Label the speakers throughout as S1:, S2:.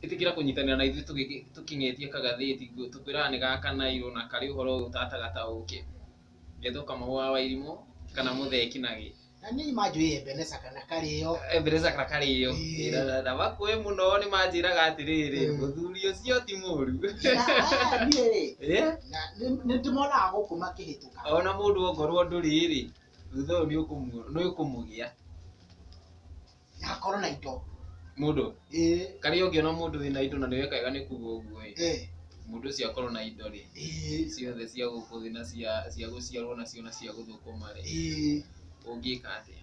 S1: ĩtĩkĩra kũnyitanĩra na ithuĩ tũgĩgĩ- tũkĩng'etia kagathĩti nguo tũkwĩraga nĩ ga kanairũ na karĩ ũhoro ũyũ ũtataga ta ũkĩ ngetwo kamahũ wa wairimũ kana mũthee kinagĩ Na niĩ manjũĩ Ebeneza kana karĩo. embereza kana karĩo Ĩĩ. Na- na- na bakũĩ mũno nĩ manjĩraga atĩrĩrĩ Mm. mũthuri ũcio ti mũru Na, ah, niĩ rĩ, Eh? na nĩ- nĩ ndĩmonaga gũkũ makĩhĩtũka. ona mũndũ ongorwo ndũrĩrĩ thutha ũyũ nĩ ũkũmu- nĩ ũkũmũgĩa Na akorwo na indo. Mũndũ? Ĩĩ. Karĩa ũngĩona mũndũ wĩna indo na nĩweka wega nĩ kuga ũguo ĩ. Ĩĩ. Mũndũ ũcio akorwo na indo rĩ. Ĩĩ. Ciothe cia gũkũ thĩ na cia cia gũciarwo nacio na cia gũthũkũma rĩ. Ĩĩ. Ũngĩka atĩa?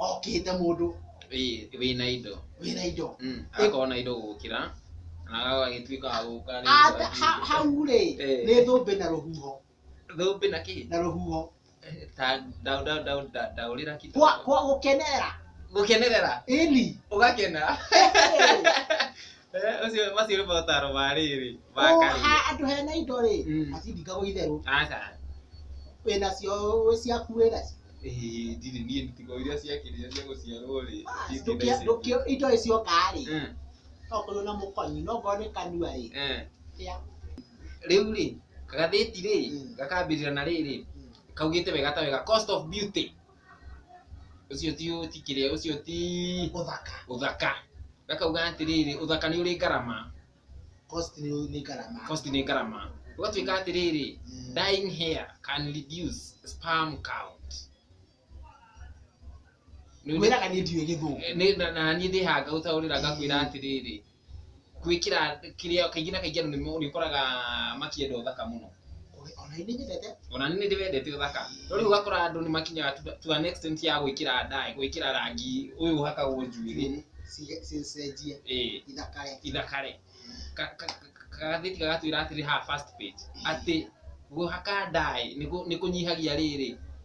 S1: Okĩte mũndũ. Ĩĩ, wĩna indo. Wĩna indo. Agakorwo na indo gũgũkĩra, na agagĩtuĩka wa gũka rĩ. Hau rĩ, nĩ thũmbĩ na rũhuho. thũmbĩ na kĩ na rũhuho ta ndau ndau ndau nda- ndaũrĩra kitu kwa kwa gũkenerera gũkenerera ĩni ũgakena Eh, ũcio macio nĩ motaro ma rĩrĩ ma Oha, karia andũ hena indo rĩ Mm. atindingagwo itherũ aca wĩnacio wĩ ciaku wĩnacio Eh, ndirĩ niĩ ntigo iria ciakĩrire cia gũciarwo rĩ Ndũkĩ- ndũkĩ- indo ĩcioka rĩ Mm, okorwo na mũkonyi no ngorwo nĩ kanua rĩ eh. kĩa rĩu rĩ gathĩti rĩ Mm. gakambĩrĩra na rĩrĩ Mm. kaugĩte wega ta wega cost of beauty ũcio ti ti kĩrĩa ũcio ti ũthaka ũthaka gakauga atĩrĩrĩ ũthaka nĩ ũrĩ ngarama cost nĩ nĩ ngarama cost nĩ ngarama ũgatuĩka atĩrĩrĩ Mm. dying hair can reduce sperm count Rĩu nĩ- wĩraga niĩ ndiũĩ gĩthũngũ nĩ- na- na niĩ ndĩhaga gũtaũrĩra ngakwĩra atĩrĩrĩ gwĩkĩra kĩrĩa kaingĩ na kaingĩ andũ nĩmo- nĩũkoraga makĩenda ũthaka mũno ona nĩ nyendete ona nĩ nĩndĩ wendete ũthaka no rĩu ũgakora andũ nĩ makinyaga to- to an extent ya gwĩkĩra ndaĩ gwĩkĩra rangi ũyũ ũhakagwo njuĩrĩ Ci- ci- cenjie ĩĩ ithakare ithakare Ka- ka- ka- kagathĩti gagatwĩra atĩrĩ haha first page atĩ kũhaka ndaĩ nĩ kũ- nĩ kũnyihagia rĩrĩ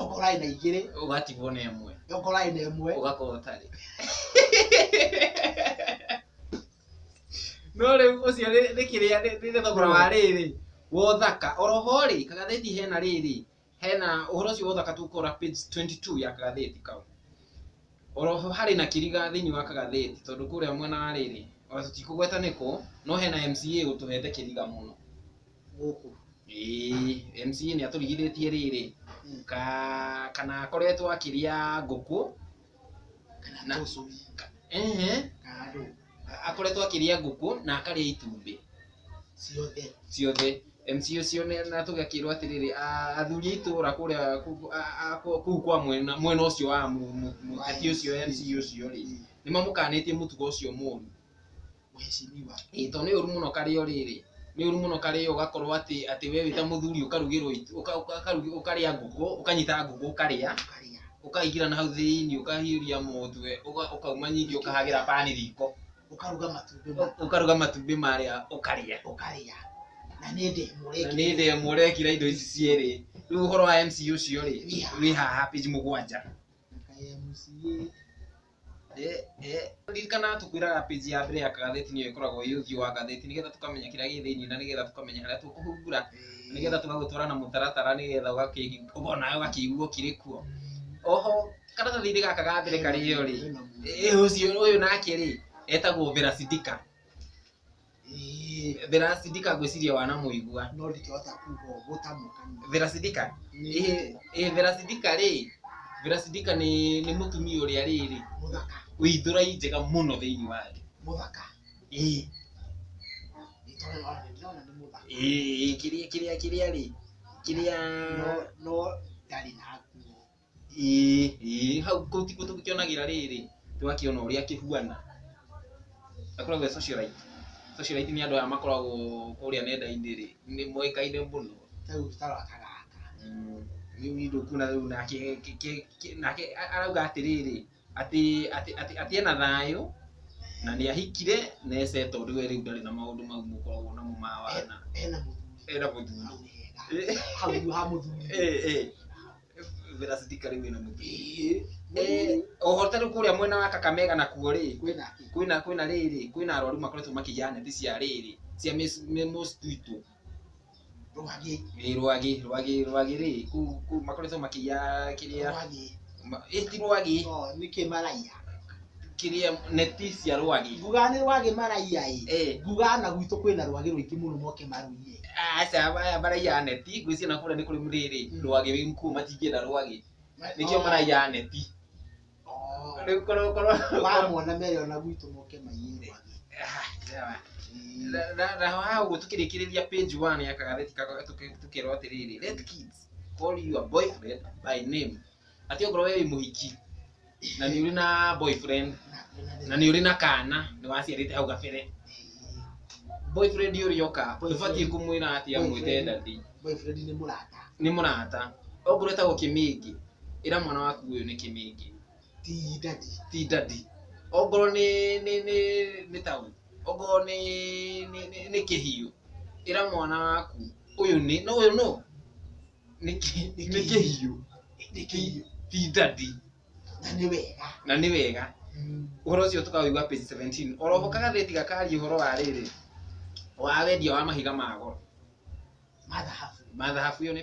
S1: okorwo arĩ na igĩrĩ ũgatigwo na ĩmwe okorwo arĩ na ĩmwe ũgakorwo ũtarĩ no rĩu ũcio nĩ nĩ kĩrĩa nĩ nĩ thogora wa rĩrĩ wa ũthaka oroho rĩ kagathĩti hena rĩrĩ hena ũhoro ũcio wa ũthaka tũgũkora page 22 ya kagathĩti kau oroho harĩ na kĩriga thĩinĩ wa kagathĩti tondũ kũrĩa mwena wa rĩrĩ ona tũtikũgweta nĩkũ no hena MCA ũtũhete kĩriga mũno gũkũ Ĩĩ, MC nĩ atũrigithĩtie rĩrĩ ka kana akoretwo akĩrĩa ngũkũ kana Na- tũcui ka- ehe kana andũ akoretwo akĩrĩa ngũkũ na akarĩa itumbĩ ciothe ciothe MC ũcio nĩ- na tũgakĩrwo atĩrĩrĩ a- athuri a itũra kũrĩa kũ- a- a- kũ- kũu kwa mwena mwena ũcio wa mu- mu- mũteti ũcio MC ũcio rĩ nĩ mamũkanĩtie mũtugo ũcio mũru Mheshimiwa. Ĩĩ tondũ nĩ ũru mũno karĩo rĩrĩ, nĩ ũru mũno karĩo ũgakorwo atĩ atĩ we wĩ ta mũthuri ũkarugĩrwo itu, ũka ũka ũkarĩa ngũkũ, ũkanyita ngũkũ ũkarĩa, Ũkarĩa. ũkaingĩra nahau thĩiniĩ ũkahiũria mũtwe, ũka ũkauma ningĩ ũkahagĩra pan riko, Ũkaruga matumbĩ ũ maku. ũkaruga matumbĩ marĩa ũkarĩa. Ũkarĩa. Na nĩ ndemu Na nĩ ũrekĩra. ndemu ũrekĩra indo ici cierĩ. Rĩu ũhoro wa MC ũcio rĩ, Wĩ haha. wĩ haha page mũgwanja. Kaĩ MCA. Ririkana tũkwĩraga page ya mbere ya kagathĩti nĩyo ĩkoragwo ĩ ũthiũ wa ngathĩti nĩgetha tũkamenya kĩrĩa gĩ thĩiniĩ na nĩgetha tũkamenya harĩa tũkũhumbura nĩgetha tũgagũtwara na mũtaratara nĩgetha ũkona ũgakĩigua ũkĩrĩ kuo. Oho karatathi-inĩ gaka ga mbere karĩ yo rĩ, ũyũ nake rĩ etagwo Vera Sidika. Verasidika ngwĩciria wanamũigua. No ndingĩhota kuga ũũ gũtamũka. Verasidika? Ĩĩ Verasidika rĩ, Verasidika nĩ nĩ mũtumia ũrĩa rĩrĩ, mũthaka, wĩ ithũra njega mũno thĩinĩ wa thĩ. Mũthaka? Ĩĩ. Ĩĩ kĩrĩa kĩrĩa kĩrĩa rĩ, kĩrĩa no no ndarĩ na nguo. Ĩĩ, ĩĩ, hau kũu tiguo tũkĩonagĩra rĩrĩ, tũgakĩona ũrĩa kĩhuana. Gakoragwo ge socialite. Socialite nĩ andũ aya makoragwo kũrĩa nenda-inĩ rĩ, nĩ moĩkaine mũno. Ta rĩu ta rwa ka gaka. Rĩu nĩ ũkuona rĩu nake nake arauga atĩrĩrĩ. atĩ atĩ atĩ atĩ ena thayũ na nĩ ahikire na e settled we rĩu ndarĩ na maũndũ mau mũkoragwo namo ma wana ena mũthuri ena mũthuri hau hega hau ha mũthuri Eh, eh. Vera Sidika rĩu ena mũthuri Eh, oho tarĩ kũrĩa mwena wa Kakamega nakuo rĩ kwĩna kĩ kwĩna kwĩna rĩrĩ kwĩna arwaru makoretwo makĩiya neti cia rĩrĩ cia mis- mi- mosquito Rwagĩ. Ĩĩ rwagĩ, rwagĩ, rwagĩ rĩ, kũu kũu makoretwo makĩiya kĩrĩa, Rwagĩ. ma- ĩ ti rwagĩ, No, nĩkĩ maraiya? kĩrĩa neti cia rwagĩ. Nguga nĩ rwagĩ maraiya ĩ. Ĩĩ. Nguga na gwitũ kwĩna rwagĩ rũingĩ mũno moke marũiye. Aca aya maraiya neti, ngwĩciria na kũrĩa nĩ kũrĩ rĩrĩ, rwagĩ wĩ kuo matingĩenda rwagĩ. Nĩkĩo maraiya neti. Rĩu korwo korwo wamwona mere ona gwitũ moke maiyĩre mwathĩ Na- na- na haha ũguo tũkĩrĩkĩrĩria page one ya kagatheti kako- tũkĩ- tũkerwo atĩrĩrĩ let kids call your boyfriend by name atĩ okorwo we wĩ mũhiki na nĩ ũrĩ na boyfriend na nĩ ũrĩ na kana nĩ waciarĩte hau gabere boyfriend ũrĩa oka ndũbatiĩ kũmwĩra atĩ amwĩte Boyfriend. ndati boyfriend nĩ mũrata nĩ mũrata okorwo etagwo kĩmĩngĩ ĩra mwana waku ũyũ nĩ kĩmĩngĩ ti ndati ti ndati ongorwo nĩ nĩ nĩ nĩ tau ongorwo nĩ nĩ nĩ- nĩ kĩhiũ ĩra mwana waku ũyũ nĩ no ũyũ no nĩ kĩ- nĩ kĩhiũ nĩ kĩhiũ ti ndati na nĩ wega na nĩ wega ũhoro ũcio tũkaũigua page 17 oroho kagathĩti gakaria ũhoro wa rĩrĩ wa wendia wa mahiga ma goro mathahabu mathahabu yo nĩ